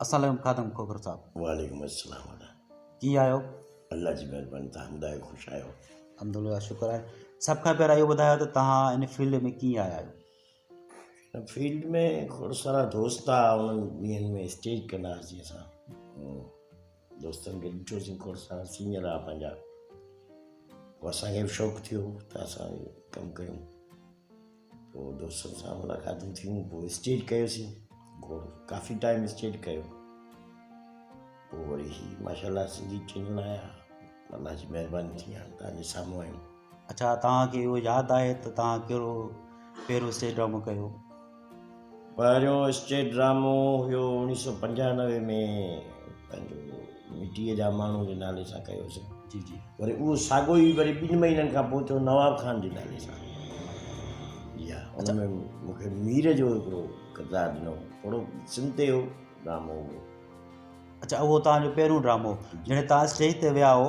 السلام عليڪم خادم کوکر صاحب. وعليڪم السلام وڏا. ڪيئن آهيو؟ الله جي مهرباني تهان ٻڌايو خوش آهيو. الحمدلله شڪر آهي. سڀ کان پهريان اهو ٻڌايو ته تهان ان فيلڊ ۾ ڪيئن آيا آهيو؟ ان فيلڊ ۾ کوڙ سارا دوست آ انهن ڏينهن ۾ اسٽيج ڪندا هئاسين اسان. دوستن کي ڏٺوسين کور سان سينئر آ پنهنجا پوء اسان کي به شوق ٿيو ته اسان به ڪم ڪيون پوء دوستن سان ملاقاتون ٿيون پوء اسٽيج ڪيوسين گھوڙ ڪافي ٽائيم اسٽيج ڪيو پوء وري هي ماشاء الله سنڌي چينل آيا الله جي مهرباني ٿي هاڻ تهنجي سامهون آهيون اڇا توهان کي اهو ياد آهي ته توهان ڪهڙو پهريون اسٽيج ڊرامو ڪيو؟ پهريون اسٽيج ڊرامو هيو اوڻيهه سو پنجانوي ۾ پنهنجو مٽيء جا ماڻهو جي نالي سان ڪيوسين جي جي وري اهو ساڳو ئي وري ٻن مهينن کان پوء ٿيو نواب خان جي نالي سان جي ها ان ۾ مون کي مير جو هڪڙو ڪردار ڏنو ٿورو سم تي هو ڊرامو هو اڇا اهو توهان جو پهريون ڊرامو جڏهن توهان اسٽيج تي ويا هو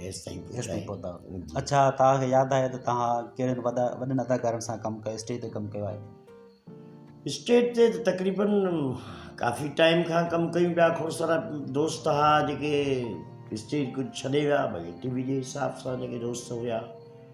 ايستائين پهتا آهيو اڇا توهان کي ياد آهي ته توهان ڪهڙن وڏن اداڪارن سان ڪم ڪيو اسٽيج تي ڪم ڪيو آهي اسٽيج تي ته تقريبن ڪافي ٽائيم کان ڪم ڪيون پيا کوڙ سارا دوست ها جيڪي اسٽيج ڪجهه ڇڏي ويا ڀلي ٽي وي جي حساب سان جيڪي دوست هيا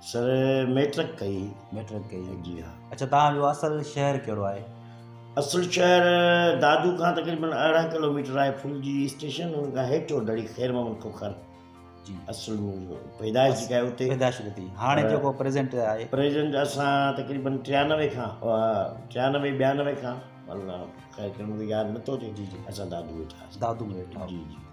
سر ميٽرڪ ڪئي هئي. ميٽرڪ ڪئي هئي جي ها. اڇا توهان جو اصل شهر ڪهڙو آهي؟ اصل شهر دادو کان تقريبن ارڙهن ڪلوميٽر آهي ڦلجي اسٽيشن ان کان هيٺ اوڍڙي خير محمد کوکر جي اصل پيدائش جيڪا آهي اتي پيدائش اتي هاڻي جيڪو پريزنٽ آهي پريزنٽ اسان تقريبن ٽيانوي کان ٽيانوي ٻيانوي کان خير کي مون کي ياد نٿو اچي جي جي اسان دادو ويٺا دادو ويٺا جي جي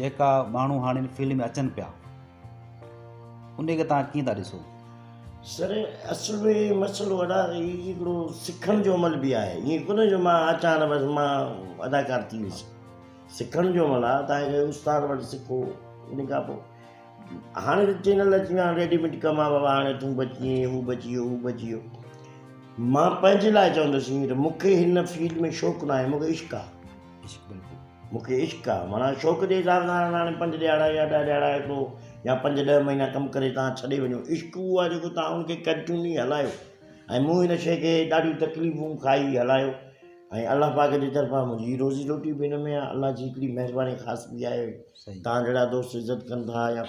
جيڪا ماڻهو هاڻي ان فيلڊ ۾ اچن پيا ان کي توهان ڪيئن ٿا ڏسو؟ سر اصل ۾ مسئلو ادا هي هڪڙو سکڻ جو عمل به آهي ائين ڪونه جو مان اچان بس مان اداڪار ٿي ويس سکڻ جو عمل آهي توهان کي استاد وٽ سکو ان کان پوء هاڻي ته چينل اچي ويا آهن ريڊيميڊ ڪم آهي بابا هاڻي تون بچ ائين هو بچ اهو هو بچ اهو مان پنهنجي لاء چوندس ائين ته مون کي هن فيلڊ ۾ شوق ناهي مون کي عشق آهي عشق بلڪل مون کي عشق آ معنيٰ شوق جي اظهار لاء هاڻي پنج ڏهاڙا يا ڏهه ڏهاڙا هڪڙو يا پنج ڏهه مهينا ڪم ڪري توهان ڇڏي وڃو عشق اهو آ جيڪو توهان ان کي ڪنٽيوني هلايو ۽ مون ان شيء کي ڏاڍيون تڪليفون کائي هلايو ۽ الله پاڪ جي طرفان منهنجي روزي روٽي به ان ۾ آ الله جي هڪڙي مهرباني خاص ٻي آهي توهان جهڙا دوست عزت ڪن ٿا يا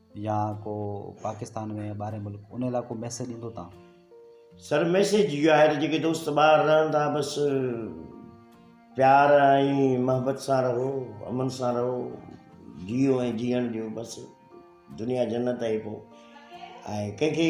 يا ڪو پاڪستان ۾ ٻاهرين ملڪ ان لاء ڪو ميسيج ايندو تان. سر ميسيج اهو آهي ته جيڪي دوست ٻاهر رهن ٿا بس پيار ۽ محبت سان رهو امن سان رهو جيئو ۽ جيئڻ ڏيو بس دنيا جنت آهي پو ۽ ڪنهن کي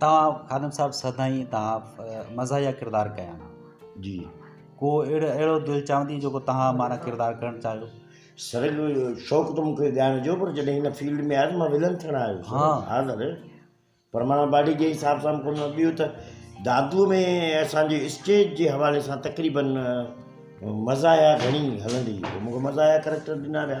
توهان خادم صاحب سدائين توهان مزاحيه ڪردار ڪيا آهن جي ڪو اهڙو اهڙو دل چاهندي جيڪو توهان معنيٰ ڪردار ڪرڻ چاهيو سر شوق ته مونکي ڳائڻ جو پر جڏهن هن فيلڊ ۾ آيس مان ولن ٿيڻ آيو سر ها سر پر معنيٰ باڊي جي حساب سان ڪونه ٻيو ته دادوء ۾ اسانجي اسٽيج جي حوالي سان تقريبن مزاحيه گهڻي هلندي هئي مونکي مزاحيه ڪريڪٽر ڏنا ويا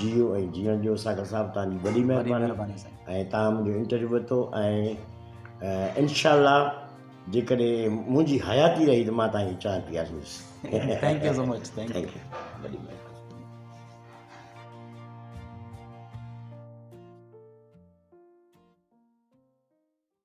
جيئو ۽ جيئڻ ڏيو ساگر صاحب توهان جي وڏي مهرباني ۽ توهان منهنجو انٽرويو ورتو ۽ انشاء الله جيڪڏهن منهنجي حياتي رهي ته مان توهان جي چانهه پياريندس thank you so much thank you وڏي مهرباني